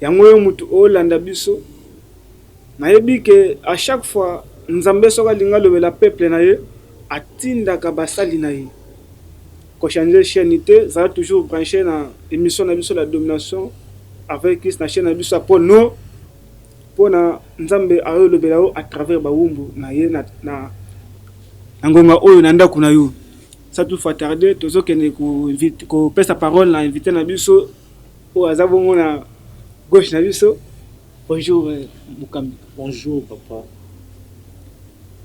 Yango yo mutu o landa biso nayebi que a chaque fois nzambe soki alingi alobela peuple na ye atindaka ba sali na ye ko changer chaine te zala toujours branche na emission na biso la domination avec christ na chaine na biso ya po no pona nzambe ayo lobela yo à travers ba wumbu na ye na, na, na ngonga oyo na ndaku na yo sa tout fois tarde tozo kende ko invite ko pesa parole na invité na biso Oyo aza bongo na gauche na biso. Bonjour mokambi. Bonjour papa.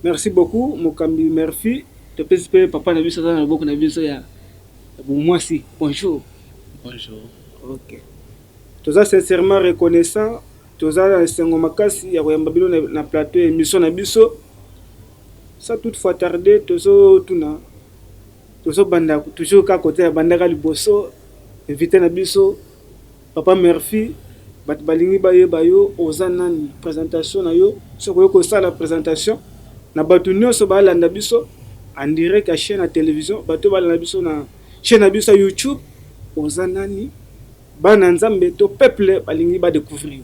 Merci beaucoup mokambi Murphy. Topesi mpe papa na biso aza na loboko na biso ya bomwasi. Bonjour. Bonjour. Ok. Toza sincèrement reconnaissant. Toza na esengo makasi ya koyamba bino na plateau ya émission na biso. Sans toutefois tarder tozotuna Tozo banda toujours kaka kote ya bandaka liboso invite na biso papa murphy batu balingi bayeba yo oza nani presentation na yo soki oye kosala presentation na batu nionso balanda biso en direct ya chaine ya television batu balanda biso na chaine na biso ya youtube oza nani bana nzambe to peuple balingi ba decouvrir yo.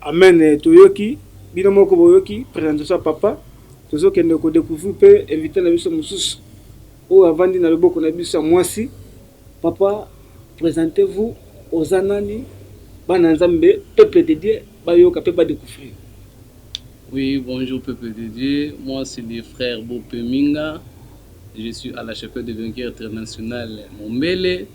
Amen toyoki bino moko boyoki presentation ya papa tozo kende ko decouvrir pe invite na biso mosusu oyo avandi na loboko na biso ya muasi papa presente vous oza nani bana nzambe peuple de Dieu bayoka pe ba decouvrir. Oui bonjour peuple de Dieu moi c'est le frère Bope Minga. Je suis à la chapelle de vainqueur international Mombele,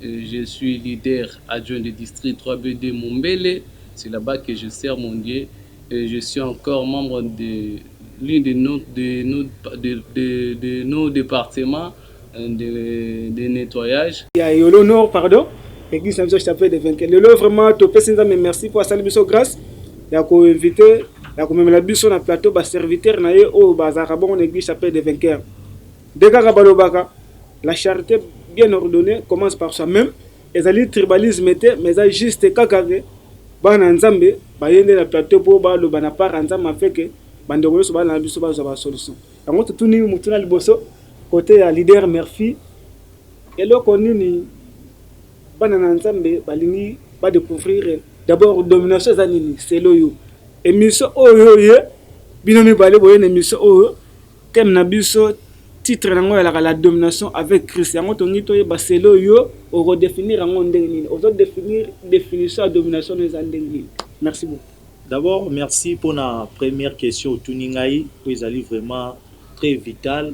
je suis leader adjoint de district 3BD Mombele, c'est la bas que je sers mon Dieu, je suis encore membre de l'une de nos de nos de, de, de nos départements de, de nettoyage. Ya Yolo Nord pardon. Église na biso chapelle de vainqueur. Lelo vraiment topesi Nzambe merci mpo asali biso grâce. ya ko inviter ya komemela biso na plateau ba serviteurs na ye oyo bazalaka bongo na eglise Chapelle des Vainqueurs nde kaka balobaka la charité bien ordonnée commence par soi-même ezali tribalisme te mais eza juste kaka ke bana ya nzambe baye nde na plateau mpo baloba na part ya nzambe afeke bandeko nyonso bana na biso bazwa basolution yango totuni motuna liboso kote ya leader merfi eloko nini Bana na nzambe balingi ba decouvrir d'abord domination eza nini selon yo? Emission oyo oye bino mibale boye na emission oyo thème na biso titre na ngo yalaka la domination avec Christ yango tongi toyeba selon yo oko definir yango ndenge nini ozo definir definition ya domination eza ndenge nini merci beaucoup D'abord, merci pour la première question au Tuningai, où ils allaient vraiment très vital.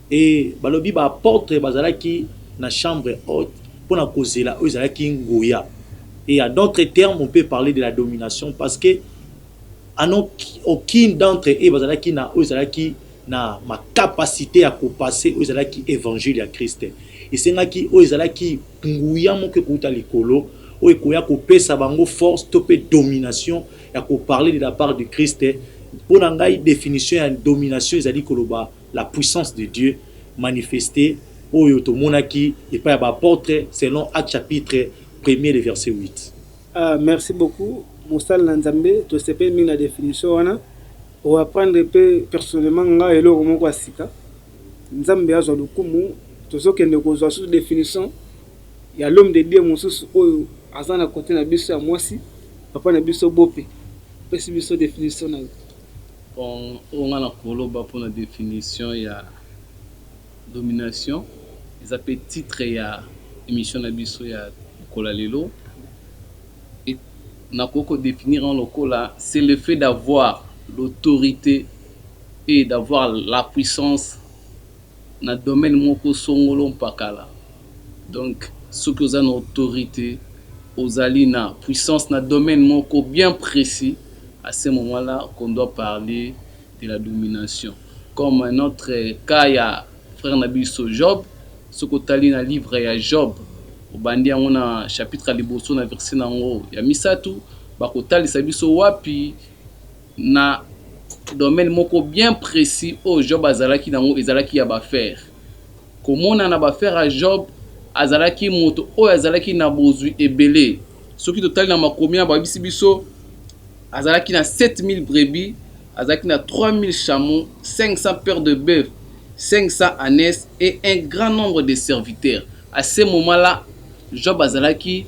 Ee, balobi baapotre bazalaki na chambre haute mpo na kozela oyo ezalaki nguya. Et à d'autres termes, on peut parler de la domination parce que à non aucune d'entre eux bazalaki na oyo ezalaki na ma capacite ya kopase oyo ezalaki evangile ya Christ. Esengaki oyo ezalaki nguya moko ekouta likolo oyo ekoya kopesa bango force to mpe domination ya koparle de la part du Christ. Mpo na ngai definition ya domination ezali koloba La puissance de Dieu manifeste oyo tomonaki epai ya ba apotres selon Actes chapitre premier le verset 8. Ahh merci beaucoup mosali na nzambe tosepeli mingi na definition wana o apprendre pe personnellement nga eloko moko ya sika nzambe azwa lokumu tozo kende kozwa susu definition ya l'homme de Dieu mosusu oyo aza na cote na biso ya mwasi papa na biso Bope apesi biso definition naye. Bon oyo nga nakoloba pona definition ya domination eza pe titre ya emission na biso ya mokolo ya lelo et nakoki ko definir yango lokola c'est le fait d'avoir l'autorite et d'avoir la puissance na domaine moko songolo mpakala donc soki oza na autorite ozali na puissance na domaine moko bien precis a ce moment là qu'on doit parler de la domination comme notre cas ya frère na biso Job soki otali na livre ya Job obandi yango na chapitre ya liboso na verset na yango ya misatu bakotalisa biso wapi Na domaine moko bien precis oyo Job azalaki na yango ezalaki ya ba affaires. Komonana ba affaires ya Job, azalaki moto oyo azalaki na bozwi ebele. Soki totali na makomi wana, bayebisi biso azalaki na 7000 brebis, azalaki na 3000 chameaux, 500 paires de boeufs, 500 anes et un grand nombre de serviteurs. A ce moment là, Job azalaki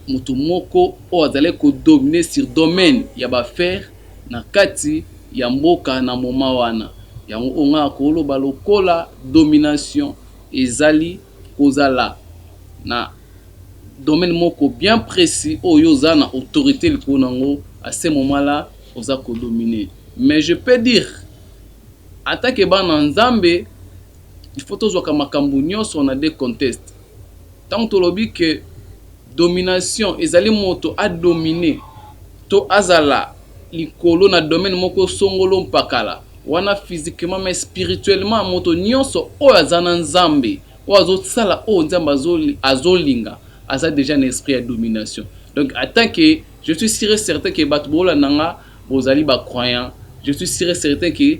mutu moko oyo azalaki ko dominer sur domaine ya ba affaires na kati ya mboka na moment wana. Yango oyo nga na ko loba lokola domination ezali ko zala na domaine moko bien precis oyo yo oza na autorite likolo na yango, à ce moment là oza ko dominer. Mais je peux dire en tant que bana Nzambe il faut to zwaka makambu nionso na deconteste. Tango tolobi que domination ezali moto a dominer to azala likolo na domaine moko songolo mpakala, wana physiquement mais spirituellement moto nionso oyo aza na Nzambe, oyo azo sala oyo Nzambe azo linga aza dejà na esprit ya domination. Donc en tant que je suis sur et certain que bato bolanda nga bozali ba croyants, je suis sur et certain que.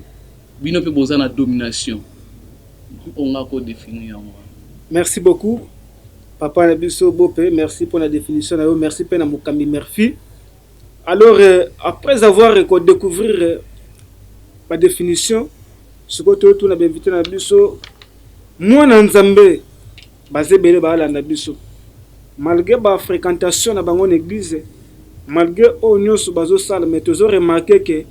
Bino pe boza na domination mpo nga ko definir yango wana. Merci beaucoup papa na biso bope merci pona definition na yo merci pe na mokambi merfi alors euh, après avoir ko découvrir euh, ba definition sikoyo toyotuna bainvite na biso mwana nzambe Baza ebele ba landa biso malgre ba frequentation na bango na eglise malgre oyo nioso bazo sala mais tozo remarque que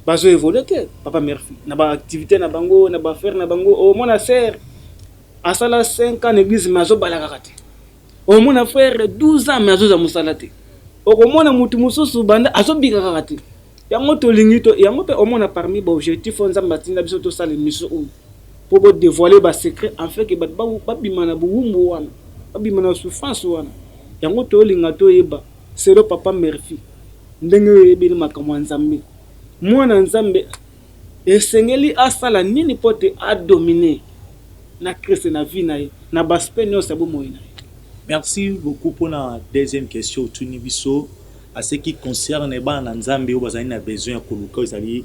bazo evolue te papa merci na ba activite na bango na ba affaire na bango omona sœur asala 5 ans na eglise mais azo bala kaka te omona frère 12 ans mais azo za musala te okomona mutu mususu banda azo bika kaka te yango tolingi to yango pe omona parmi ba objectif oyo nzambe atinda biso tosala emission oyo po bo devoiler ba secrets afin que batu ba bima na bowumbu wana, ba bima na souffrance wana, yango tozo linga to yeba selon papa Murphy ndenge yo oyebeli makambo ya Nzambe, muana Nzambe esengeli asala nini po te a dominer na Christ na vie na ye na ba aspects nionso ya bomoyi na ye? Merci beaucoup pona deuxième question otuni biso a ce qui concerne bana na Nzambe oyo bazali na besoin ya koluka oyo ezali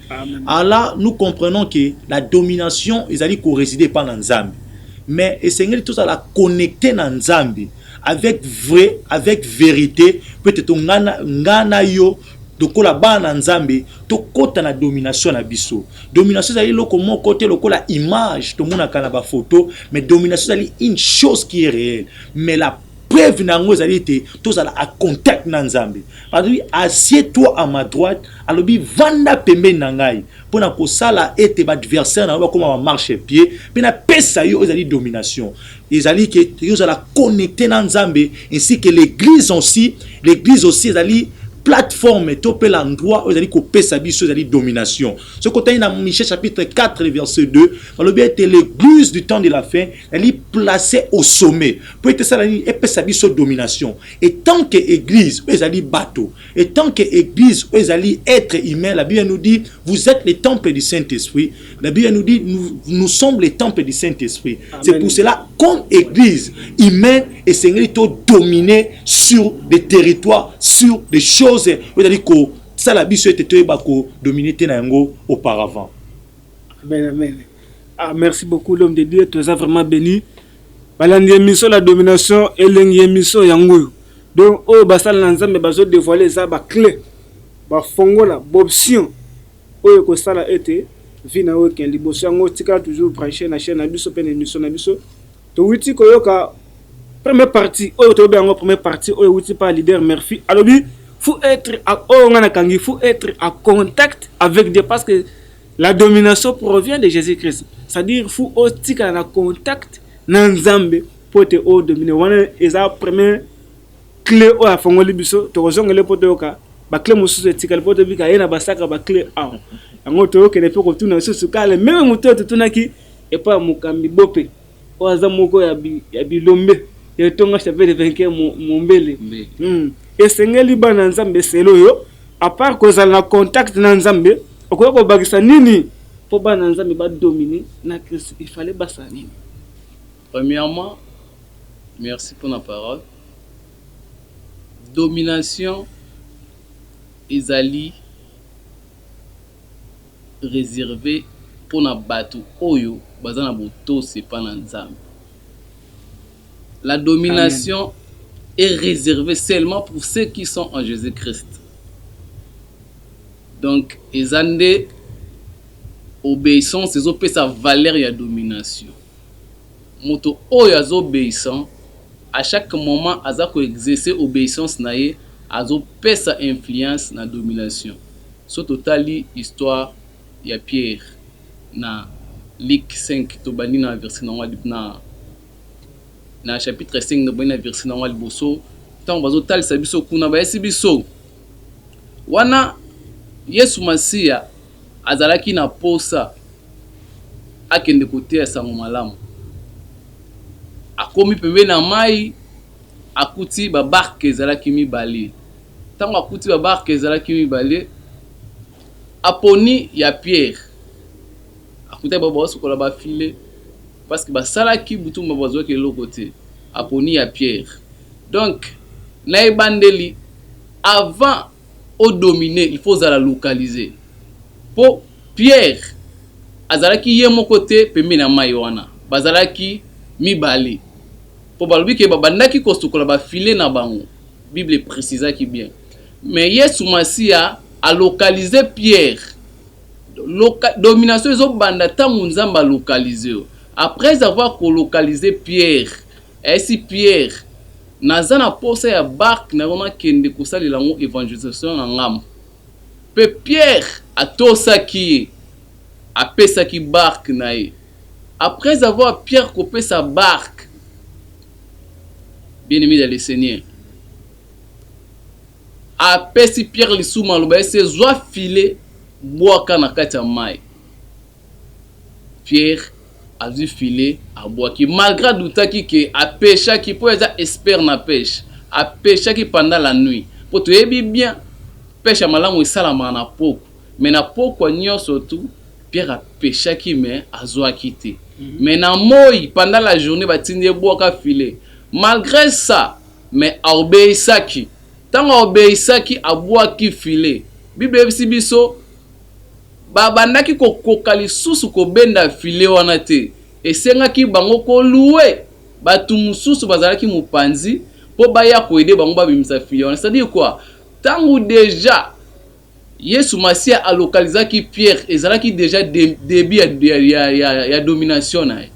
Alors là, nous comprenons que la domination ezali ko résider pas na Nzambe. Mais esengeli tozala connecter na Nzambe avec vrai, avec vérité, peut-être ngana ngana yo lokola bana nzambe tokɔta na domination na biso domination ezali eloko moko te lokola image tomonaka na bafoto mais domination ezali une chose qui est réelle mais la Preuve na yango ezali ete tozala a contact na Nzambe. Alobi assied toi à ma droite, alobi vanda pembeni na ngai mpo na kosala ete ba adversaire na yo bakoma ba marche pied mpe napesa yo ezali domination. Ezali ke toki ozala connecte na Nzambe ainsi que l'eglise aussi, l'eglise aussi ezali plateforme to pe l'endroit oyo ezali kopesa biso ezali domination soki otali na michel chapitre 4 verset 2 balobi ete l'église du temps de la fin Ezali place au sommet mpo ete esala nini? Epesa biso domination etant que eglise oyo ezali bato, etant que eglise oyo ezali etre humain. La Bible nous dit vous etes le temple du Saint Esprit. La Bible nous dit nous, nous sommes le temple du Saint Esprit. C'est pour cela comme eglise humaine esengeli to dominer sur des territoires, sur des choses oyo ezali kosala biso ete toyeba ko dominer te na yango auparavant. Amen, amen. Ah merci beaucoup l'homme de Dieu, toza vraiment béni. Balandi émission la domination elengi émission yango oyo. Donc oyo basala na Nzambe bazo dévoiler eza ba clé. Ba fongola b'option oyo ekosala ete vie na yo ekende liboso yango tika toujours branche na chaîne na biso mpe na émission na biso. Towiti koyoka première partie oyo toyebi yango première partie oyo ewuti mpa leader Murphy alobi faut être oyo ngai nakangi faut être à contact avec Dieu parce que La domination provient de Jesus Christ. C'est à dire faut otikala na contact na Nzambe po te o dominer. Wana eza premier clé oyo afongoli biso tokozongele po toyoka bakle mosusu etikali po tobika ye na basaka bakle awa yango toyokende mpe kotuna lisusu kale meme moto oyo totunaki epai ya mokambi bope Oyo aza moko ya bilombe ya etonga Chapelle de Vainqueur Mombele. Hum esengeli bana Nzambe selo yo a part kozala na contact na Nzambe okoki kobakisa nini mpo bana Nzambe ba dominer na Christ il fallait basala nini? Premièrement merci mpo na parole domination ezali reserve pona batu oyo baza na botosi epa na nzambe la domination est reserve seulement pour ceux qui sont en Jesus Christ donc eza nde obeissance ezo pesa valeur ya domination moto oyo azo obeissant à chaque moment aza ko exercer obeissance na ye azo pesa influence na domination Soki totali histoire ya Pierre na Luc cinq, tobandi na verset na yango ya, na chapitre cinq, tobandi na verset na yango ya liboso, tango bazotalisa biso kuna, bayebisi biso wana Yesu Masiya azalaki na posa akende koteya sango malamu, akomi pembeni ya mayi, Akuti babarke ezalaki mibale. Ntango akuti babarke ezalaki mibale, aponi ya Piere. Akutaki bango baosukola bafile, parceke basalaki butu mobimba bazwaki eloko te. Aponi ya Piere. Donc, na ebandeli, avant o dominer, il faut ozala localiser. Mpo Piere azalaki ye moko te pembeni ya mai wana, bazalaki mibale. Po balobi ke babandaki kosukola ba filets na bango, Bible e precisaki bien. Mais Yesu Masiya a localiser Pierre. Loca, domination ezo banda tango Nzambe a localiser yo. Après avoir ko localiser Pierre, ayebisi Pierre, Naza na posa ya barque na yo nakende kosalela yango evangelisation na ngambo. Pe Pierre atosaki ye, apesaki barque na ye. Après avoir Pierre kopesa Bark bien aime dans le seigneur apesi Pierre lisusu maloba ese zwa filet bwaka na kati ya mai Pierre azwi filet abwaki malgré adutaki ke apeshaki mpo eza expert na peshe apeshaki pendant la nuit mpo toyebi bien peshe ya malamu esalamaka na pokwa mais na pokwa nyonso tu Pierre a pechaki mais azuaki te mais na moyi pendant la journee ba tindi ye buaka filet malgre ça mais a obeissaki tango a obeissaki a buaki filet bible eyebisi biso ba bandaki ko koka lisusu ko benda filet wana te esengaki bango ko louer batu mususu bazalaki mupanzi po baya ko aider bango ba bimisa filet wana c'est à dire quoi tango dejà Yesu Masiya a localisaki Pierre ezalaki dejà debut ya domination na ye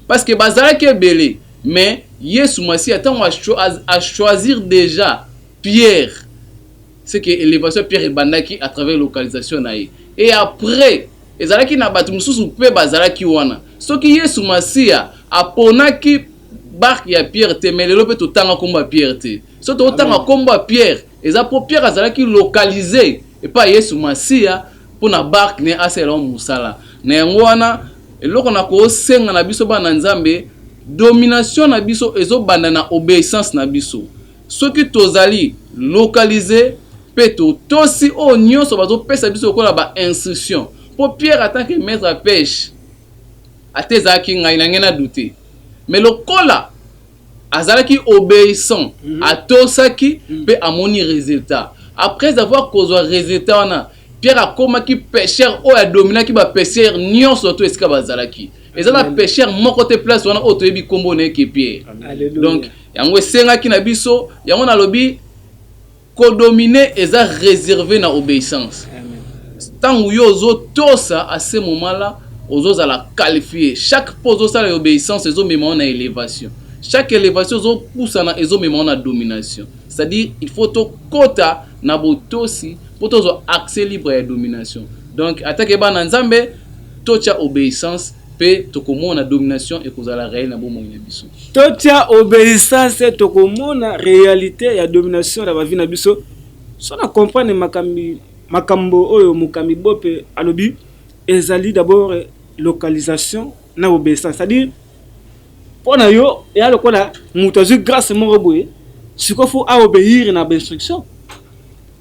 parce que bazalaki ebele mais Yesu Masiya tango a choisir dejà Pierre ce que elevation ya Pierre ebandaki à travers localisation na ye et après ezalaki na batu mususu pe bazalaki wana soki Yesu Masiya a ponaki barque ya Pierre te mais lelo pe totanga kombo ya Pierre te soki totanga kombo ya Pierre Eza po Pierre azalaki localise epa Yesu Masiya po na barque ne asalela yango mosala. Na yango wana eloko na ko senga na biso bana na Nzambe, domination na biso ezo banda na obeissance na biso. Soki tozali localise pe to tosi oyo nionso bazo pesa biso lokola ba instruction. Po Pierre en tant que maitre ya peche, ata ezalaki ngai na ngai na doute. Mais lokola. Azalaki obeissant, atosaki, mpe amoni resultat. Après avoir kozwa resultat wana, Pierre akomaki pecheur oyo a dominaki ba pecheur nionso tout esika bazalaki. Eza na pecheur moko te place wana oyo toyebi kombo na ye que Pierre. Donc yango esengaki na biso, yango nalobi, Ko dominer eza reserve na obeissance. Tangu yo ozo tosa a ce moment là ozo zala qualifie. Chaque pas ozo sala ya obeissance ezo mema yo na elevation. Chaque elevation ozo pusana ezo mema yo na domination. C'est à dire il faut to kota na botosi po tozwa accès libre ya domination. Donc ata ke bana Nzambe to tia obeissance. Mpe tokomona domination ekozala reel na bomoi na biso. Totya obeissance, tokomona realite ya domination na ba vie na biso. Soki na comprendre makambi makambo oyo mokambi Bope alobi, ezali d'abord localisation na obeissance. C'est à dire mpo na yo eya lokola moto azwi grace moko boye sikoyo fo a obéir na bainstruction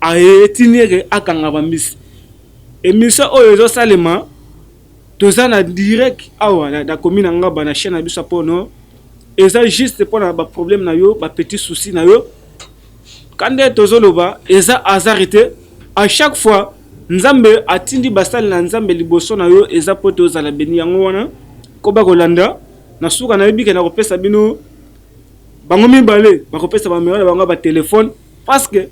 aetini eke akanga bambisi emission oyo ezosalema Toza na direct awa na commune ya Ngaba na chaine na biso ya Pole Nord. Eza juste pona ba problème na yo, ba petits soucis na yo. Kande tozo loba eza hasard te. A chaque fois Nzambe atindi basali na Nzambe liboso na yo eza po tozala beni yango wana koba kolanda na suka na yebi ke na kopesa bino bango mibale bakopesa ba numero na bango ya ba telephone parce que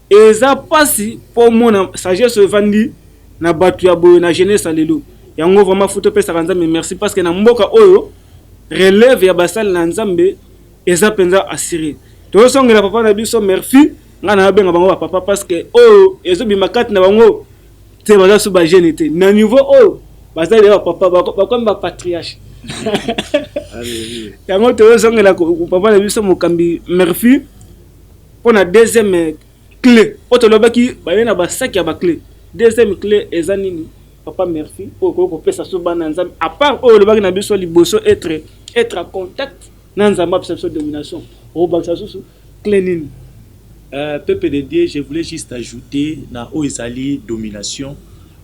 Eza pasi po omona sagesse oyo evandi na batu ya boye na jeunesse ya lelo. Yango vraiment faut topesaka Nzambe merci parce que na mboka oyo releve ya basali na Nzambe eza penza assure. Tozosongela papa na biso Murphy, nga nabenga bango ba papa parce que oyo ezobima kati na bango te baza su ba jeune te. Na niveau oyo baza deja ba papa bakomi ba patriarche. Yango tozosongela papa na biso mokambi Murphy. Pona deuxième cle oyo tolobaki baye na ba sac ya ba cle deuxième cle eza nini papa merci oyo okoki kopesa biso bana ya nzambe à part oyo olobaki na biso liboso etre etre a contact na nzambe apesa biso domination okobakisa susu cle nini Euh, peuple de Dieu, je voulais juste ajouter na oyo ezali domination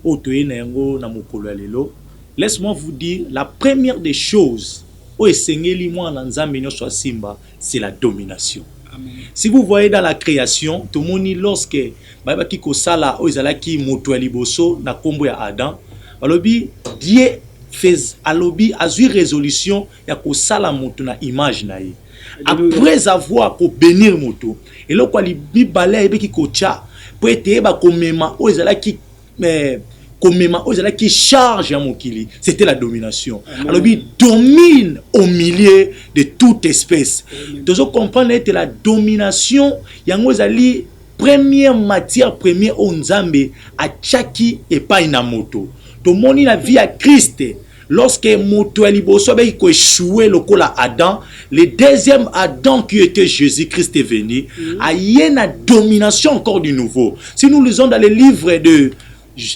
oyo toye na yango na mokolo ya lelo. Laisse-moi vous dire la première des choses oyo esengeli mwana na Nzambe nyonso asimba c'est la domination si vous voyez dans la création tomoni lorsque bayebaki kosala oyo ezalaki moto ya liboso na nkombo ya adam balobi die fez alobi azwi résolution ya kosala moto na image na ye après avoir kobenir moto eloko ya mibale ayebaki kotya mpo ete yeba komema oyo ezalaki mais komema oyo ezalaki charge ya mokili c'était la domination alobi domine au milieu de toute espèce tozo comprendre ete la domination yango ezali première matière première oyo nzambe atyaki epai na moto tomoni na vie ya kriste Lorsque moto ya liboso abaki ko echoue lokola Adam, le deuxième Adam qui était Jésus-Christ est venu, mm. aye na domination encore du nouveau. Si nous lisons dans le livre de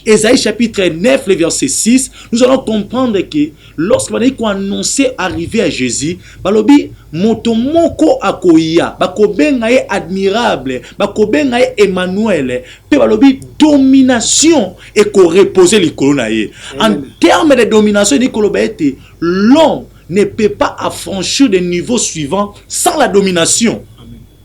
Esaïe chapitre 9, le verset 6, nous allons comprendre que lorsque bandaki ko annoncer arrivée à Jésus, balobi moto moko akoya, bakobenga ye admirable, bakobenga ye Emmanuel, pe balobi domination ekoreposer likolo na ye en terme de domination elingi koloba ete l'homme ne peut pas affranchir de niveau suivant sans la domination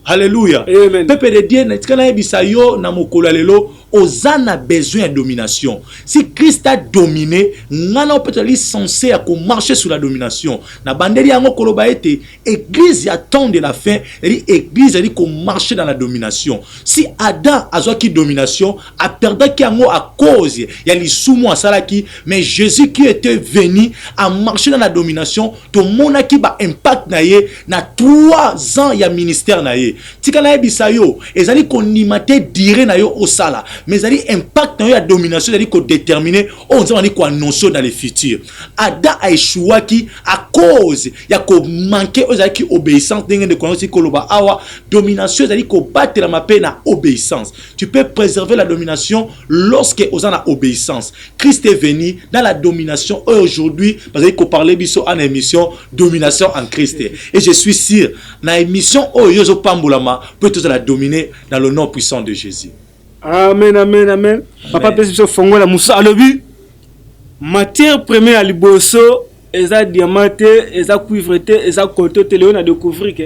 halleluya pepe de dieu natika nayebisa yo na mokolo ya lelo oza na besoin ya domination si christ a domine ngai nao mpe tozali sense ya komarche sur la domination na bandeli yango koloba ete Eglise ya temps de la fin ezali eglise ezali komarche dans la domination. Si Adam azwaki domination, aperdaki yango à cause ya lisumu asalaki, mais Jésus qui était venu a marché dans la domination, tomonaki ba impact na ye na 3 ans ya ministère na ye. Tika nayebisa yo, ezali kondima te dire na yo osala, mais ezali impact na yo ya domination ezali kodetermine oyo Nzambe azali koannonce yo dans le futur. Adam a echouaki à cause ya ko manquer oyo ezalaki obéissance ndenge ndeko yango esili koloba awa domination ezali kobatelama mpe na obéissance tu peux préserver la domination lorsque oza na obéissance christ est venu dans la domination oyo aujourd'hui bazali koparle biso ana émission domination en christ et je suis sûr na émission oyo yo ezopambolama mpo tozala domine dans le nom puissant de jésus Amen, amen, amen. Papa pesi biso fongola musa alobi matière première ya liboso eza diamant te, eza cuivre te, eza coton te. Leo na découvrir que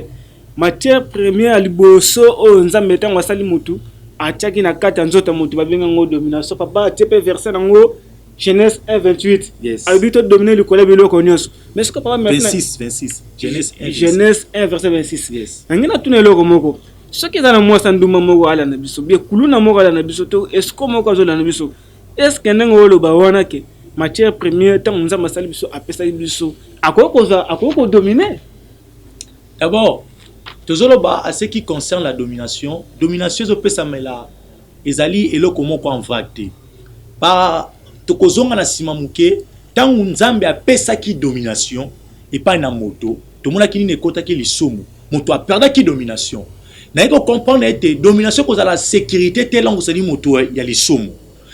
matière première ya liboso oyo Nzambe ntango asali mutu atiaki na kati ya nzoto ya mutu babenga yango domination. Papa atie pe verset nango Genèse 1 28. Yes. Alobi to dominer likolo ya biloko nyonso. Mais ce que papa 26 26. Genèse 1 verset 26. Yes. Nangi na tuna eloko moko. soki eza na mwasi andumba moko ala na biso bie kuluna moko ala na biso to esco moko azola na biso eske ndenge oloba wana ke matière première ntango nzambe asali biso apesaki biso akoki kozwa akoki kodomine d'abord tozoloba à ce qui concerne la domination domination ezopesamela ezali eloko moko en vrague te ba tokozonga na nsima moke ntango nzambe apesaki domination epai na moto Tomonaki nini ekotaki lisumu. Moto a perdaki domination. Naye ko comprendre ete domination kozala securite te longo sani moto ya lisumu.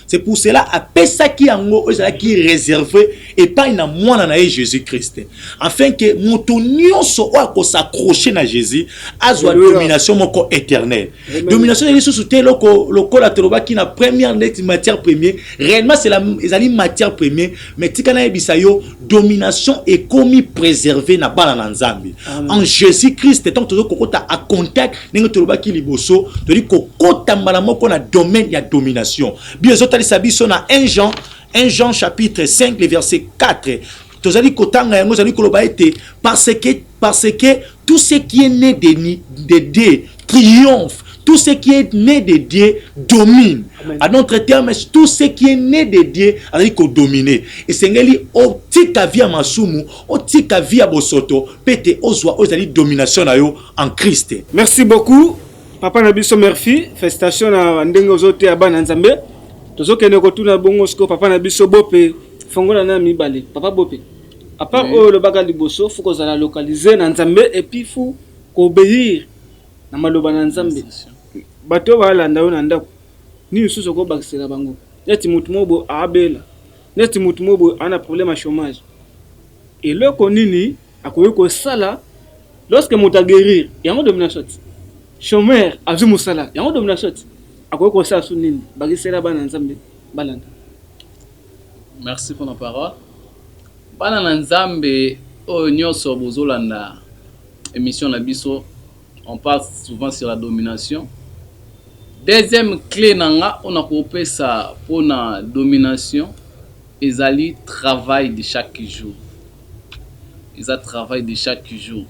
C'est pour cela apesaki yango oyo ezalaki reserve epai na mwana na ye Jésus Christ afin que moto nyonso oyo akos'accrocher na Jésus azwa domination moko éternelle. domination ezali lisusu te eloko lokola tolobaki na première neti matière premier réellement ezali matière premier mais tika nayebisa yo domination ekomi préserve na bana na nzambe en jésus christ ntango tozo kokota a contact ndenge tolobaki liboso tozali kokota mbala moko na domaine ya domination bio ezotalisa biso na 1 jean 1 jean chapitre 5 le verset 4 tozali kotanga yango ezali koloba ete parce que, parce que tout ce qui est né de, de dieu triomphe tout ce qui est né de dieu domine Amen. à notre terme tout ce qui est né de dieu azali kodomine esengeli otika vi ya masumu otika vi ya bosoto mpe te ozwa oyo ezali domination na yo en christ merci beaucoup papa na biso merci festation na ndenge ozoteya bana nzambe tozokende kotuna bongo sikoyo papa na biso bope Fongola na ya mibale papa bope. A part Oui. oyo olobaka liboso faut kozala localise na Nzambe et puis faut ko obeir na maloba na Nzambe. Bato oyo balanda yo na ndako nini lisusu okoki kobakisela bango? Neti moto moko boye abela, neti moto moko boye ana problème ya chômage. Eloko nini akoki kosala lorsque moto a guérir? Yango domination te. Chômeur azwi mosala, yango domination te. Akoki kosala su nini? Bakisela bana Nzambe balanda. Merci pona parole bana na nzambe oyo nioso bozolanda emission na biso on parle souvent sur la domination deuxième clé na nga ona kopesa pona domination ezali travail de chaque jour eza travail de chaque jour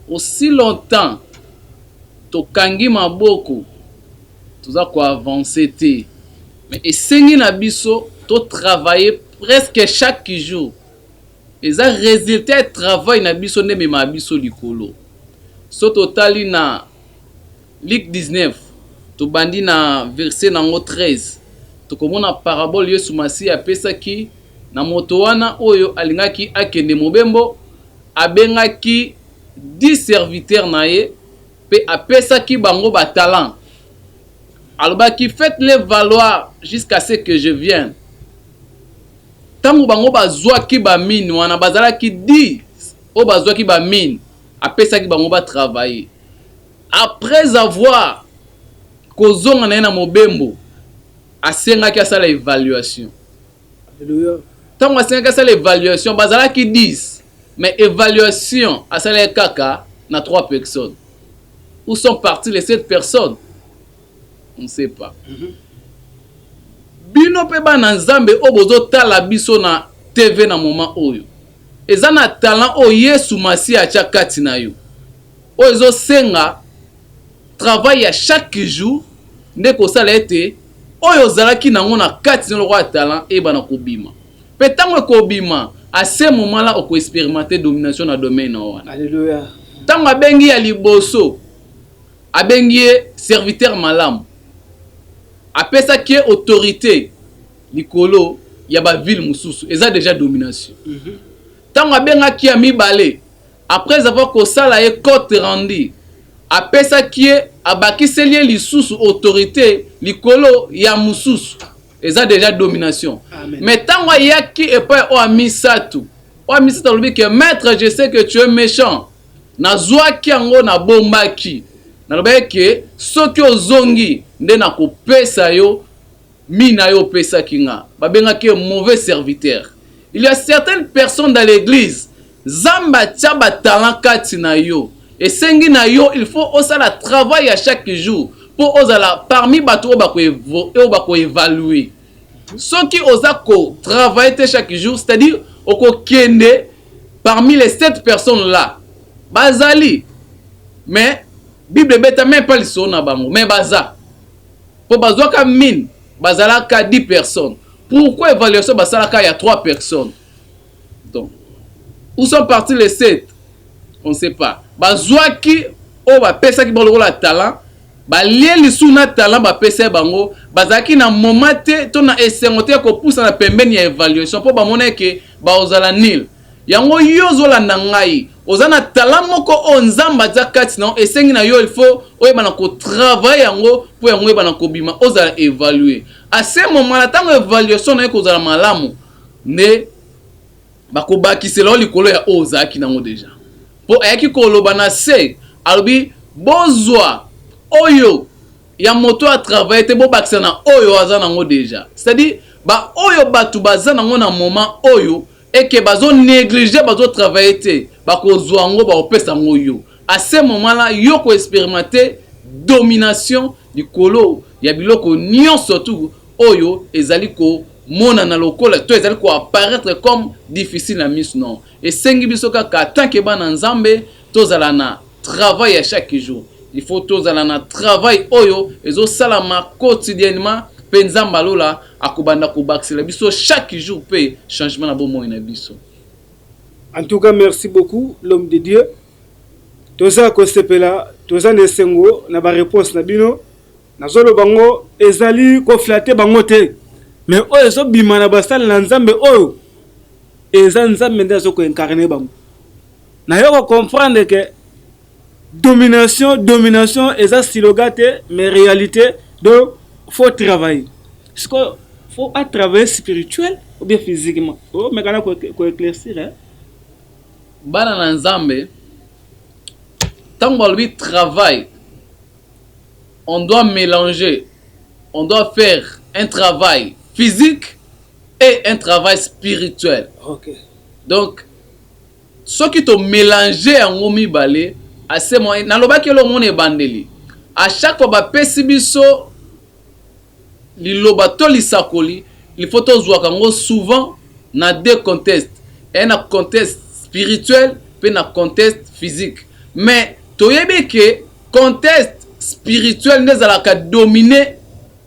aussi longtemps tokangi maboko toza koavance te Mais esengi na biso to travailler presque chaque jour. Eza resultat ya travail na biso nde ememaka biso likolo. Soki totali na Luc 19, tobandi na verset na yango 13, tokomona parabole Yesu Masiya apesaki na moto wana oyo alingaki akende mobembo, abengaki dix serviteurs na ye, Mpe apesaki bango ba talents, alobaki, Faites-les valoir jusqu'à ce que je vienne. Ntango bango bazwaki ba mines wana, bazalaki dix oyo bazwaki ba mines, apesaki bango ba travailler. Après avoir kozonga na ye na mobembo, asengaki asala evaluation. Ntango asengaki asala evaluation, bazalaki 10 mais evaluation asalaki kaka na 3 personnes. Où sont partis les 7 personnes? On ne sait pas. Mm -hmm. Bino mpe bana Nzambe oyo bozotala biso na TV na moment oyo, eza na talent oyo Yesu Masiya atya kati na yo, oyo ezosenga travail ya chaque jour nde kosala ete oyo ozalaki na yango na kati na lokola talent eyebana kobima pe tango ekobima a ce moment la oko experimenter domination na domaine na yo wana Alleluia tango abengi ya liboso abengi ye serviteur malamu apesaki ye autorite likolo ya ba ville mosusu eza dejà domination tango abengaki ya mibale Après avoir kosala ye cote rendu, apesaki ye, abakiseli ye lisusu autorite likolo ya mosusu. Eza dejà domination. Mais tango ayaki epai ya oyo ya misato, oyo ya misato alobi que maitre je sais que tu es mechant, nazuaki yango nabombaki, nalobaki que soki ozongi nde nakopesa yo mina yo opesaki nga. Babengaki ye mauvais serviteur. Il ya certaines personnes dans l'eglise, Zambe atia ba talent kati na yo esengi na yo il faut osala travail ya chaque jour po ozala parmi batu oyo bako oyo bako evaluer soki oza ko travailler te chaque jour c'est à dire oko kende parmi les sept personnes là bazali mais bible ebeta meme pas lisolo na bango mais baza po bazwaka mine bazalaka 10 personnes pourquoi evaluation basalaka ya 3 personnes Donc où sont partis les sept? On ne sait pas. Bazuaki oyo bapesaki bango lokola talent, balie lisusu na talent bapesaki bango, bazalaki na moment te to na esengo te ya kopusana pembeni ya evaluation mpo bamonaki ke bakozala nul. Yango yo ozolanda ngai, oza na talent moko oyo Nzambe atia kati na yo, esengi na yo il faut oyeba na ko travailler yango mpo yango oyeba na kobima, ozala evaluer. A ce moment-là, tango evaluation na yo ekozala malamu, nde bakobakisela yo likolo ya oyo ozalaki nango deja, mpo ayaki koloba na se alobi bozwa oyo ya moto a travaille te bobakisa na oyo aza nango deja, c'est à dire ba oyo batu baza nango na moment oyo et que bazo negliger bazo travailler te bakozwa yango bakopesa yango yo à ce moment là yo ko experimenter domination likolo ya biloko nionso tout oyo ezali ko monana lokola to ezali ko apparaître comme difficile na misu non esengi biso kaka tant que bana nzambe tozala na travail ya chaque jour il faut tozala na travail oyo ezo salama quotidiennement pe nzambe ya lola akobanda kobakisela biso chaque jour pe changement na bomoi na biso. En tout cas merci beaucoup l'homme de Dieu toza kosepela toza na esengo na ba reponse na bino. Nazo loba ngo ezali ko flatter bango te mais oyo ezo bima na basali na Nzambe oyo eza Nzambe nde azo ko incarner bango. Na yo ko comprendre que domination domination eza slogan te mais réalité donc faut travailler. Sikoyo faut a travailler spirituel ou bien physiquement. Oh mais kana ko ko éclaircir hein. Bana na Nzambe tango balobi travail on doit melanger on doit faire un travail physique et un travail spirituel okay. donc soki to melanger yango mibale ase nalobaki elongo na ebandeli à chaque fois bapesi biso Liloba to lisakoli il faut tozuaka yango souvent na deux contextes et na contexte spirituel pe na contexte physique mais toyebi que contexte spirituel nde ezalaka domine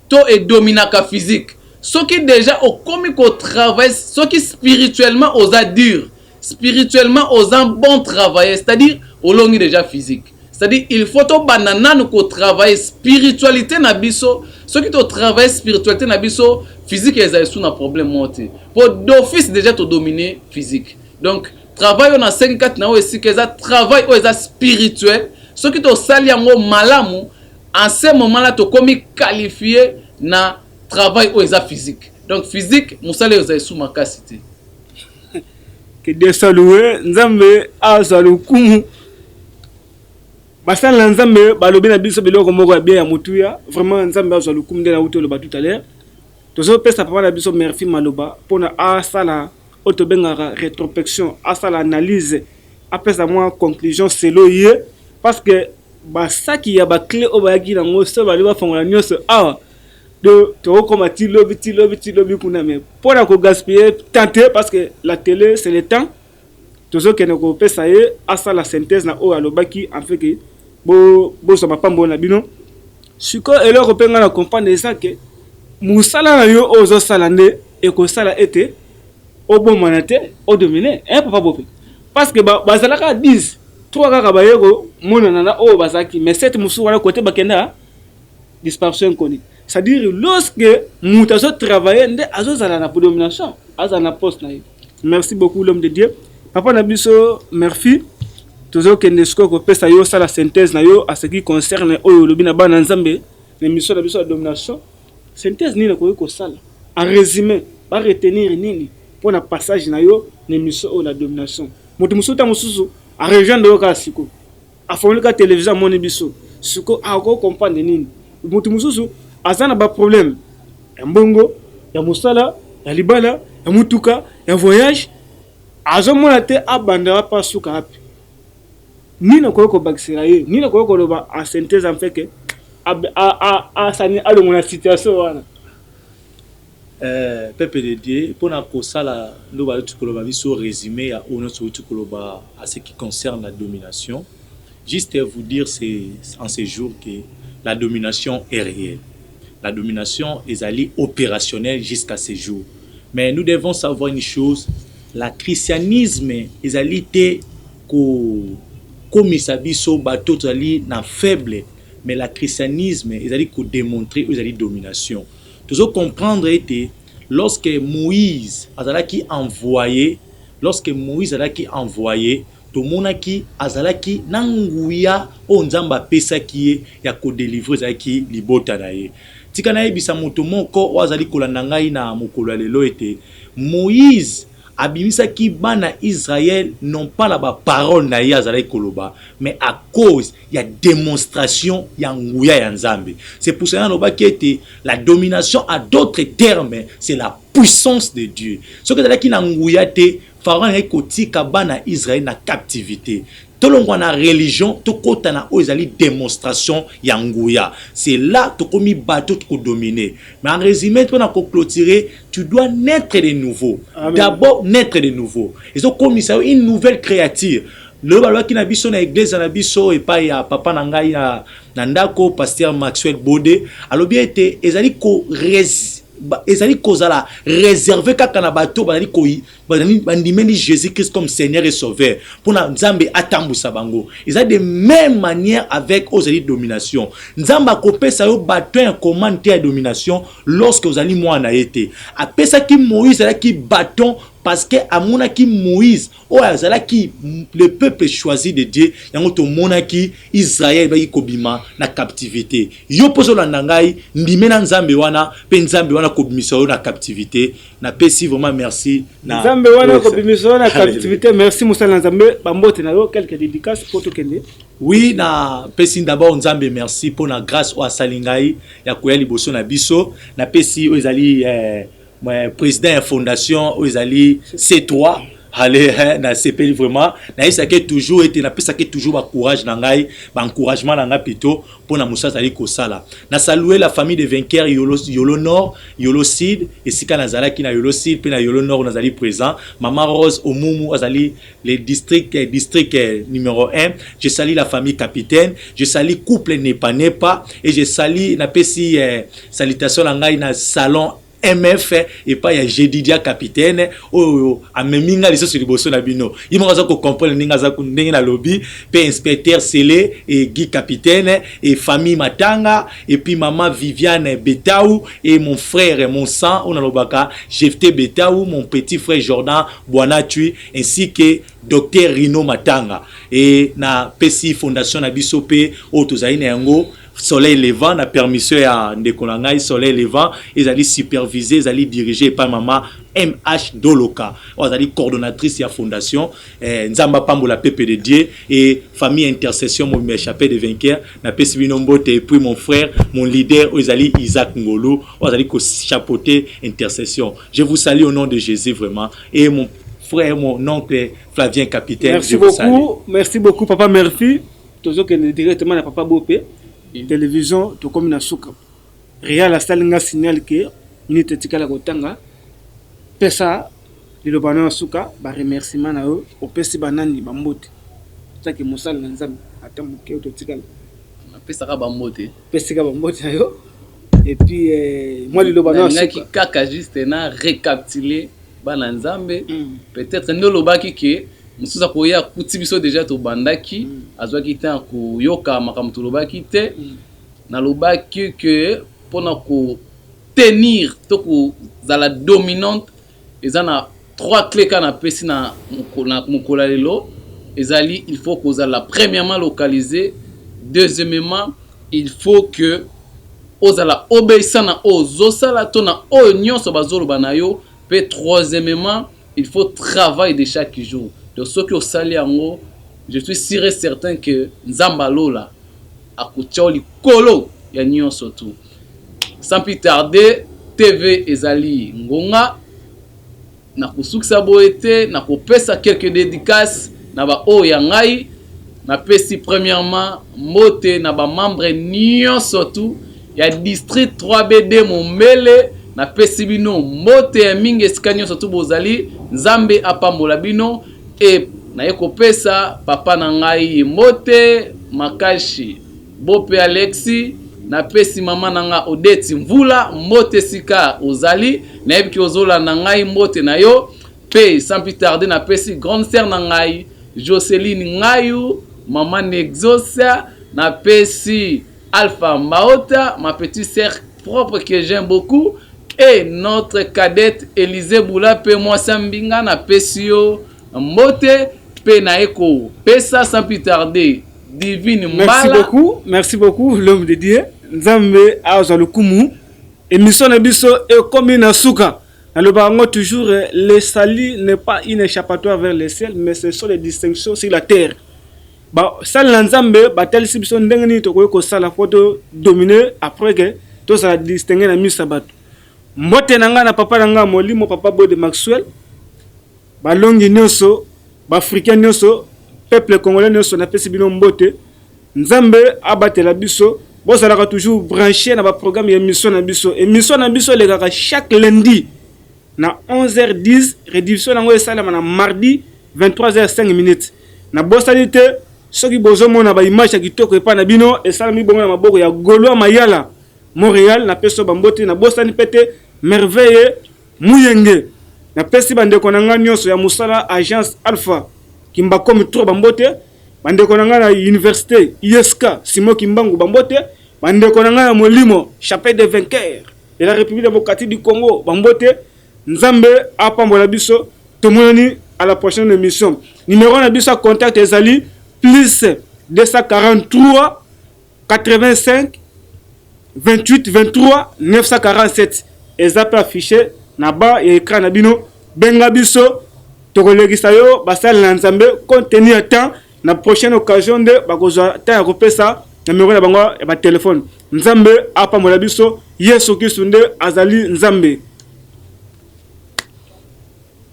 to e dominaka physique soki dejà okomi ko travailler soki spirituellement oza dure Spirituellement oza bon travailleur c'est à dire olongi dejà physique c'est à dire il faut tobanda nanu ko travailler spiritualité na biso soki to travailler spiritualité na biso physique ezali sous na problème moko te po d'office dejà to dominer physique donc travail oyo nasengi kati na oyo esika eza travail oyo eza spirituel soki tosali yango malamu en ce moment là tokomi qualifie na travail oyo eza physique donc physique mosala oyo ezali sous makasi te Que Dieu soit loué, Nzambe azwa lokumu. Basali na Nzambe balobi na biso biloko moko ya bien ya motuya. Vraiment Nzambe azwa lokumu nde nauti oloba tout à l'heure. Tozopesa papa na biso Murphy Maloba mpona asala oyo tobengaka retropection, asala analyse, apesa mwa conclusion selo ye parce que basaki ya baclé oyo bayaki nango so balobi bafongola nyonso awa Donc toko koma ti lobi ti lobi ti lobi kuna mais pona ko gaspiller temps te parce que la tele c'est le temps tozo kende ko pesa ye asala synthèse na oyo alobaki en fait que bo bozwa mapambo na bino sikoyo eloko mpe ngai na comprendre eza ke mosala na yo oyo ozosala nde ekosala ete obomana te odomine eh, papa bope parce que bazalaka 10 3 kaka baye komonana na oyo bazalaki mais 7 mosusu wana kote bakenda disparso inconnue c'est à dire lorsque mutu azo travailler nde azo zala na predomination azala na poste na ye merci beaucoup l'homme de Dieu papa na biso merci tozokende sikoyo kopesa yo osala synthèse na yo à ce qui concerne oyo olobi na bana nzambe na émission na biso ya domination synthèse nini okoki kosala en résumé ba retenir nini mpo na passage na yo na émission oyo la domination moto mosusu ntango mosusu arejoindre yo kaka sikoyo Afongoli ka television amoni biso. Siko ako comprendre nini? Mutu mususu aza na ba problème ya mbongo, ya mosala, ya libala, ya mutuka, ya voyage azo mona te abanda wapi asuka wapi. Nini okoki kobakisela ye? Nini okoki koloba en synthèse en fait que alongo na situation wana? Eeh peuple de Dieu pona kosala nde bawuti koloba biso resume ya oyo nionso owuti koloba a ce qui concerne la domination juste vous dire ce en ce jour que la domination est reelle la domination ezali operationnelle jusqu'à ce jour mais nous devons savoir une chose la christianisme ezali te ko komisa biso batu oyo tozali na faible mais la christianisme ezali ko demontrer oyo ezali domination Tozo comprendre ete lorsque Moïse azalaki envoye, lorsque Moïse azalaki envoye, tomonaki azalaki na nguya oyo Nzambe apesaki ye ya ko delivrer ezalaki libota na ye. Tika nayebisa moto moko oyo azali kolanda ngai na mokolo ya lelo ete Moïse abimisaki bana Israël non pas na ba paroles na ye azalaki koloba mais à cause ya demonstration ya nguya ya Nzambe. C'est pour cela nalobaki ete la domination à d'autres termes c'est la puissance de Dieu. Soki ezalaki na nguya te, Pharaon alingaki kotika bana Israël na captivité. Tolongwa na religion, tokota na oyo ezali demonstration ya nguya. C'est là tokomi bato tokodomine. Mais en résumé, mpona koclotire, tu dois naître de nouveau. D'abord naître de nouveau. Ezokomisa yo une nouvelle créature. Lelo balobaki na biso na egleza na biso epai ya papa na ngai na, na ndako pasteur Maxwell Bode alobi ete ezali ko res, ezali kozala reserve kaka na bato bazali ko bandimeli Jésus Christ comme Seigneur et Sauveur mpona Nzambe atambwisa bango. Eza de même manière avec ozali domination. Nzambe akopesa yo baton ya commande te ya domination lorsque ozali mwana na ye te. Apesaki Moïse alaki baton parce que amonaki Moïse oyo azalaki le peuple choisi de Dieu, yango tomonaki Israël baki kobima na captivité. Yo pozo landa ngai, ndimela Nzambe wana pe Nzambe wana kobimisa yo na captivité. Na pesi vraiment merci na Nzambe wana kobimisa yo na captivité. Merci musala Nzambe, ba mbote na yo quelques dédicaces po tokende. Oui, na pesi d'abord Nzambe merci pona grâce oyo asali ngai ya koya liboso na biso. Na pesi oyo ezali eh, Mais président ya fondation oyo ezali C3 ale hein, nasepeli vraiment nayesaki toujours ete napesaki toujours bacourage na ngai baencouragement na ngai pito mpo na mosala azali kosala na salue la famille de vainqueur yolo, yolo nord yolo sud esika nazalaki na yolo sud mpe na yolo nord nazali présent mama rose omumu azali le district eh, district eh, numéro 1 je sali la famille capitaine je sali couple nepa nepa et je sali napesi eh, salutation na ngai na salon mf eh, epai ya jedidia capitaine oyo amemi ngai lisusu liboso na bino ye moko aza kocomprendre ndenge aza ndenge nalobi mpe inspecteur sele e guy capitaine e famille matanga epuis mama viviane betau e mon frère mon sang oyo nalobaka jefte betau mon petit frère jordan bwanatui ainsi que Docteur Rhino Matanga et na pesi fondation na biso pe oyo tozali na yango soleil levant na permission ya ndeko na ngai soleil levant ezali supervise ezali dirige epai mama mh doloka oyo azali coordonnatrice ya fondation eh, nzambe apambola pepe de dieu et famille intercession mobimba ya chapelle de vainqueur napesi bino mbote et puis mon frère mon leader oyo ezali isaac ngolu oyo azali kochapote intercession je vous salue au nom de jésus vraiment et mon frère mon oncle Flavien Capitaine merci beaucoup merci beaucoup papa merci tozokende directement na papa Bope mm. télévision tokomi na suka Real asali nga signal ke minute etikala kotanga pesa liloba na suka ba remerciement na yo opesi banani bambote taki mosala na nzambe ata moke totikala napesaka bambote pesika bambote na yo epuis eh, mwa liloba nalingaki kaka juste na recaptule bana nzambe mm. peut-être nde olobaki ke mosusu akoya akuti biso deja tobandaki mm. azwaki temps koyoka makambo tolobaki te mm. nalobaki ke mpona kotenir to kozala dominante Eza na trois cles kaka na pesi na mokolo ya lelo ezali il faut kozala premièrement localise, deuxiemement il faut que ozala obeissant na oyo ozo sala to na oyo nionso bazo loba na yo pe troisiemement il faut travail de chaque jour donc soki osali yango je suis sur et certain que Nzambe ya lola akotia yo likolo ya nionso tout. Sans plus tarder, TV ezali ngonga. Nakosukisa boye te, nakopesa quelques dedicaces na ba oyo ya ngai. Napesi premièrement mbote na ba membres nionso tout ya district 3BD Mombele. Napesi bino mbote ya mingi esika nionso tout bozali. Nzambe apambola bino et naye kopesa papa na ngai mbote makashi. Bope Alexi, Na pesi maman na nga Odette Mvula mbote esika ozali. Na yebi ke ozo landa ngai mbote na yo. Pe sans plus tarder na pesi grande sœur na ngayi Joceline Ngayu, maman Nexos. Na pesi Alpha Mbaota, ma petite sœur propre que j'aime beaucoup et notre cadette Elise Bula pe mwasi ya mbinga na pesi yo mbote. Pe na ye ko pesa sans plus tarder. divine mbala merci beaucoup merci beaucoup l'homme de dieu nzambe azwa lokumu émission na biso ekomi na suka nalobaka yango toujours eh, le salut n'est pas une échappatoire vers le ciel mais ce sont les distinctions sur la terre basali na nzambe batalisi biso ndenge nini tokoki kosala mpo todomine après ke tozala distingue na miso ya bato mbote na ngai na papa na ngai ya molimo papa bode maxwell balongi nyonso B'Africains nioso, peuple congolais nioso napesi bino mbote. Nzambe abatela biso. Bozalaka toujours branche na ba programme ya emission na biso. Emission na biso elekaka chaque lundi na 11h10, rediffusion nango esalema na mardi 23h05 minutes. Na bosani te soki bozomona ba image ya kitoko epa na bino esalami bongo na maboko ya Golois Mayala Montreal na peso bambote na bosani pete merveille Muyenge, Na pesi ba ndeko na nga nionso ya musala Agence Alpha Kimbakomi trop ba mbote, ba ndeko na nga na universite ISK Simon Kimbangu ba mbote, ba ndeko na nga ya molimo Chapelle des vainqueurs de la Republique Democratique du Congo ba mbote. Nzambe a pambola biso, to monani à la prochaine emission. Numero na biso ya contact ezali plus 243 85 28 23 947 eza mpe affiche na ba ya ekran na bino benga biso tokolekisa yo basali na nzambe compte tenu ya temps na prochaine occasion nde bakozwa temps ya kopesa numero na bango ya batelefone nzambe apambola biso yesu kristu nde azali nzambe